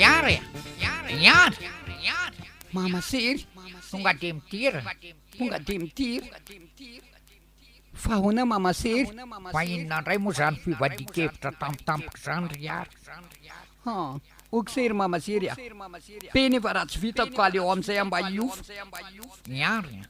Miara e! Miara! Mama sery! Tonga dia midira! Tonga dia midira! Fa ahoana mama sery? Fa inona indray moa izany fivadian-kevitra tampotampoka izany ry Yary? Han! ok sery mama sery a! Be nefa raha tsy vitako ka aleo amin'izay aho mba hiofo! Miara!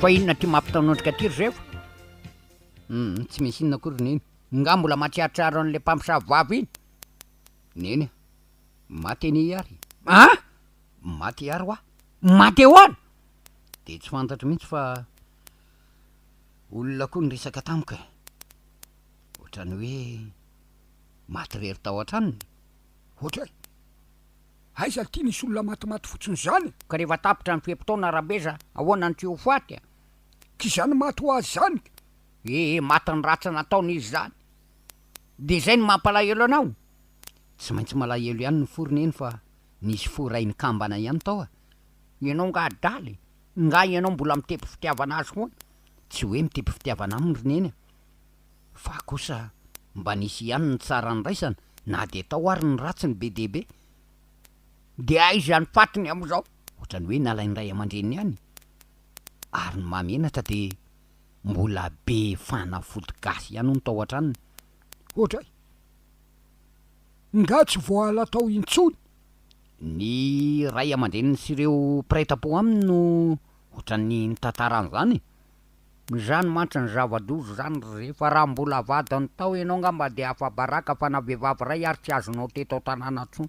Fa inona ty mampitaonondrika aty ry zefo? Hum, tsy misy inona akory Neny. Nga mbola mahatsiarotsiaro an'ilay mpamosavy vava iny? Neny a! Maty anie i Ary. Ah! Maty i Ary wa? Maty ahoana? Dia tsy fantatro mihitsy fa olona koa niresaka tamiko e! Ohatran'ny hoe maty irery tao an-tranony. Ohatra hoe. Aiza ty nisy olona matimaty fotsiny zany e. Ka rehefa tapitra ny fe-potoana Rabeza ahoana ny tsy ho faty a. K'izany maty ho azy zany ka. Ee maty ny ratsy nataony izy zany de zay no mampalahelo anao? Tsy maintsy malahelo ihany ny fo ry neny fa nisy fo rain'ny kambana ihany tao a. Ianao nga adala e, nga ianao mbola mitepy fitiavana azy foana? Tsy hoe mitepy fitiavana aminy ry neny a. Fa kosa mba nisy ihany ny tsara niraisana na dia tao ary ny ratsiny be dia be. Dia aiza ny fatiny amin'izao? Ohatrany hoe nalain'ny ray aman-dreniny ihany. Ary ny mahamenatra dia mbola be fanafody gasy ihany hono tao an-tranony. Ohatray! Nga tsy voaala tao intsony? Ny ray aman-dreniny sy ireo mpiray tampo aminy no ohatran'ny nitantara an'izany e! Izany mantsy ny zava-doza izany ry zefa, raha mbola avadiny tao ianao angamba dia afa-baraka fa na vehivavy iray ary tsy azonao teto an-tanàna intsony.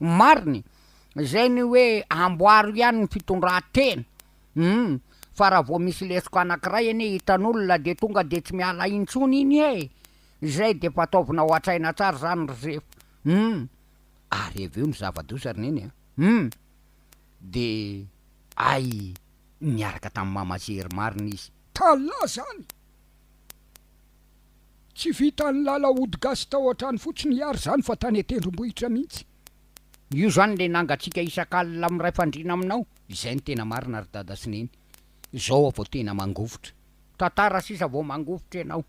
Ny marina e! Izay ny hoe amboaro ihany ny fitondran-tena. Humm! Fa raha vao misy lesoka anankiray anie hitan'olona dia tonga dia tsy miala intsony iny e! Izay dia efa ataovina ao an-tsaina tsara izany ry zefa. Humm! Ary avy eo ny zava-doza ry neny a! Humm! Dia ay! niaraka tamin'i Mama Zery marina izy. Tàlà zany! Tsy vitan'ny lala hody gasy tao an-trano fotsiny hiary zany fa tany an-tendrombohitra mihitsy. Io zany le nangatsiaka isak'alina miray fandriana aminao, izay no tena marina ry Dada sy Neny. Zao aho vao tena mangovitra. Tantara sisa vao mangovitra ianao.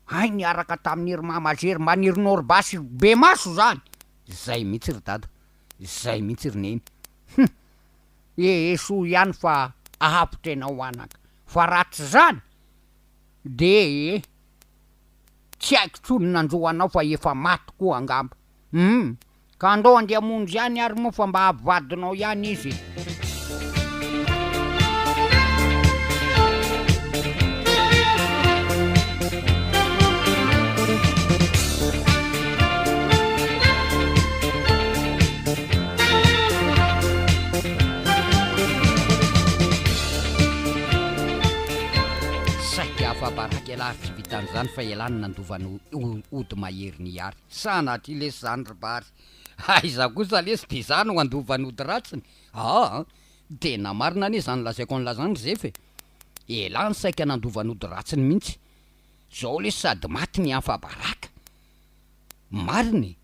Hay niaraka tamin'i ry Mama Zery mban'i ry Norba sy ry Bemaso zany! Zay mihitsy ry Dada. Zay mihitsy ry Neny. Hum! ee soa ihany fa ahavotra enao anaka fa raha tsy zany de ee tsy haiko tsony nanjo anao fa efa maty koa angamba hum ka andao ande hamonjy ihany ary moa fa mba avy vadinao ihany izy ee. Saika afa-baraka ialahy ary tsy vitan'izany fa ialahy no nandova an'i Ody mahery nihary. Sa anatria lesy izany ry Bary? Aiza kosa lesy dia izaho no handova an'i Ody ratsiny? Aa! Tena marina anie izany lazaiko an'lah izany ry Zefa e! Ialahy no saika nandova an'i Ody ratsiny mihitsy. Izao lesy sady maty ny afa-baraka. Marina e!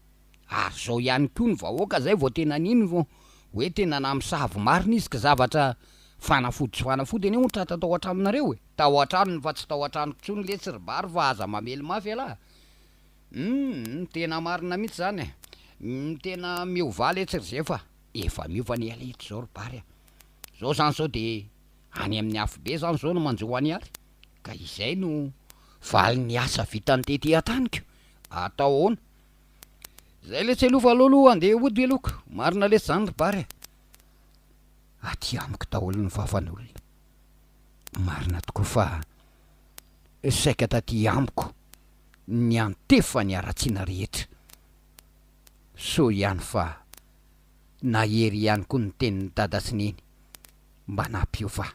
Ary zao ihany koa ny vahoaka zay vao tena nino vao hoe tena namosavy marina izy ka zavatra fanafody sy fanafody anie ohatra tao an-tranonareo e! Tao an-tranony fa tsy tao an-tranoko tsony letsy ry Bary fa aza mamely mafy ialahy e! Humm tena marina mihitsy zany e! Humm tena miovà letsy ry Zefa a! Efa miova ny ela eto zao ry Bary a! Zao zany zao de any amin'ny afobe zany zao no manjo ho any ary ka izay no valin'ny asa vitany tety an-taniko! Atao ahoana? Zay letsy aloha fa aleo aloha andeha hody aloha ko, marina letsy zany ry Bary a. Aty amiko daholo ny fafan'olona. Marina tokoa fa saika taty amiko niantefa ny haratsiana rehetra. Soa ihany fa nahery ihany koa ny tenin'i Dada sy Neny mba nampiova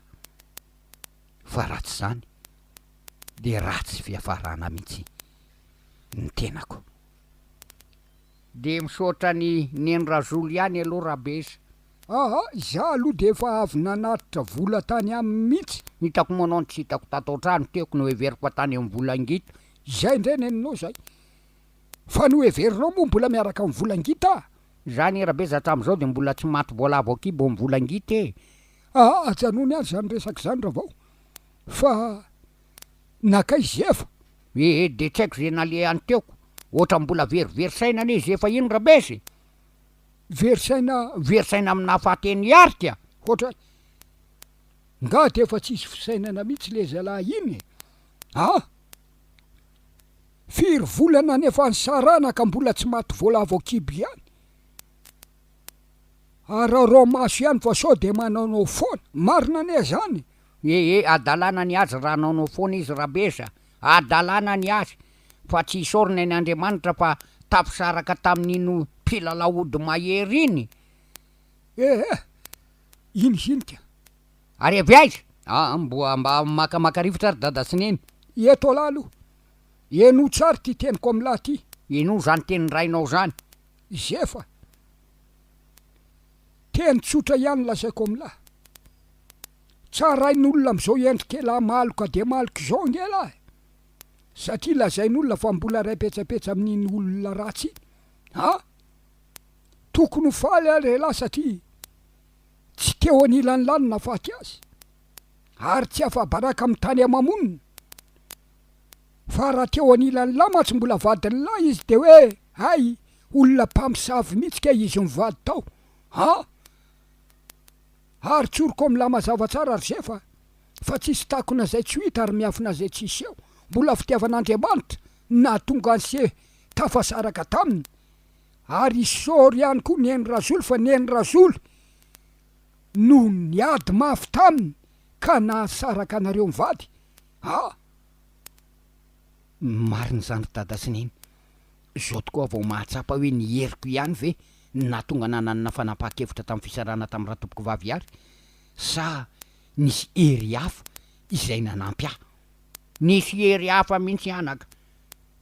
fa raha tsy zany dia ratsy fiafarana mihitsy. ny tenako. Dia misaotra an'i Neny Razolo ihany aloha Rabesa. Aa izaho aloha dia efa avy nanatitra vola tany aminy mihitsy. Hitako moa anao no tsy hitako tato an-trano teo ko noheveriko fa tany amin'ny vola ngita. Izay indray neninao izay. Fa noheverinao moa mbola miaraka amin'ny vola ngita? Izaho anie Rabesa hatramin'izao dia mbola tsy maty voalavo an-kibo amin'ny vola ngita e! Aa ajanony any izany resaka izany Ravao fa Nakaiza izy efa? Ee de tsy haiko ze nalehany teo, otrany mbola very very saina anie izy efa iny rabezy e! Very saina? Very saina amin'ny naha faty an'i Hearty a! Hoatra nga de efa tsisy fisainana mihitsy le zalahy iny e! A! Firy volana any efa nisarahana ka mbola tsy maty voalavo kibo ihany? Araraomaso ihany fa sao de manao nao foana! Marina anie zany e! He he adalana ny azy raha anaonao foana izy rabezy a! Adalana ny azy fa tsy isaorina any Andriamanitra fa tafisaraka tamin'iny mpilalao ody mahery iny eh! Iny ziny ka! Ary avy aiza? Aa mboa mba makamaka rivotra ary dada sy neny. Eto alahy aloha. Henoy tsara ity teniko amin'lah ty. Inoa zany tenin-drainao zany? Zefa. Teny tsotra ihany lazaiko amin'lah. Tsarain'olona amzao endrik'elah maloka dia maloka izao ange elah e! Satria lazain'olona fa mbola ray petsapetsa amin'iny olona ratsy iny. Ha! Tokony ho faly ary elah satria tsy teo anilany lany nafaty azy. Ary tsy afa-baraka amin'ny tany ama-monina. Fa raha teo anilany lahy mantsy mbola vadin'ny lahy izy dia hoe hay! Olona mpamosavy mihitsy kay izy mivady tao. Ha! Ary tsoriko mla mazava tsara ry Zefa a! Fa tsisy takona zay tsy ho hita ary miafina zay tsy hiseho! Mbola fitiavan'Andriamanitra no nahatonga an'i Se tafasaraka taminy! Ary i Sôro ihany koa niheno Razolo fa niheno Razolo no niady mafy taminy ka nahasaraka anareo mivady! Ah! Marina izany ry dada sy neny. Izao tokoa vao mahatsapa hoe ny heriko ihany ve no nahatonga ahy nanana fanapahan-kevitra tamin'ny fisarahana tamin'ny ratompoko vavy ihary sa nisy hery hafa izay nanampy ahy? Nisy hery hafa mihitsy anaka,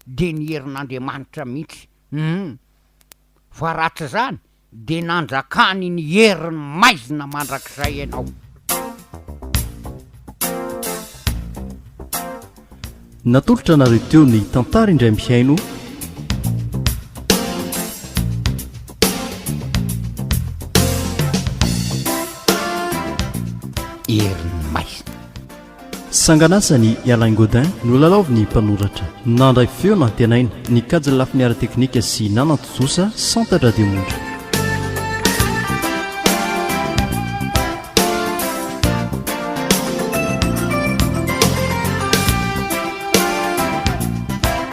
dia ny herin'Andriamanitra mihitsy, humm. Fa raha tsy izany Dia nandrakany ny herin'ny maizina mandrakizay ianao. Natolotra anareo teo ny Tantara indray mihaino. Sangan'asan'i i Alain Gaudin no lalaovin'ny mpanoratra. Nandray feo nantenaina, nikajy ny lafiny ara-teknika sy nanan-tontosa Santatra Demondra.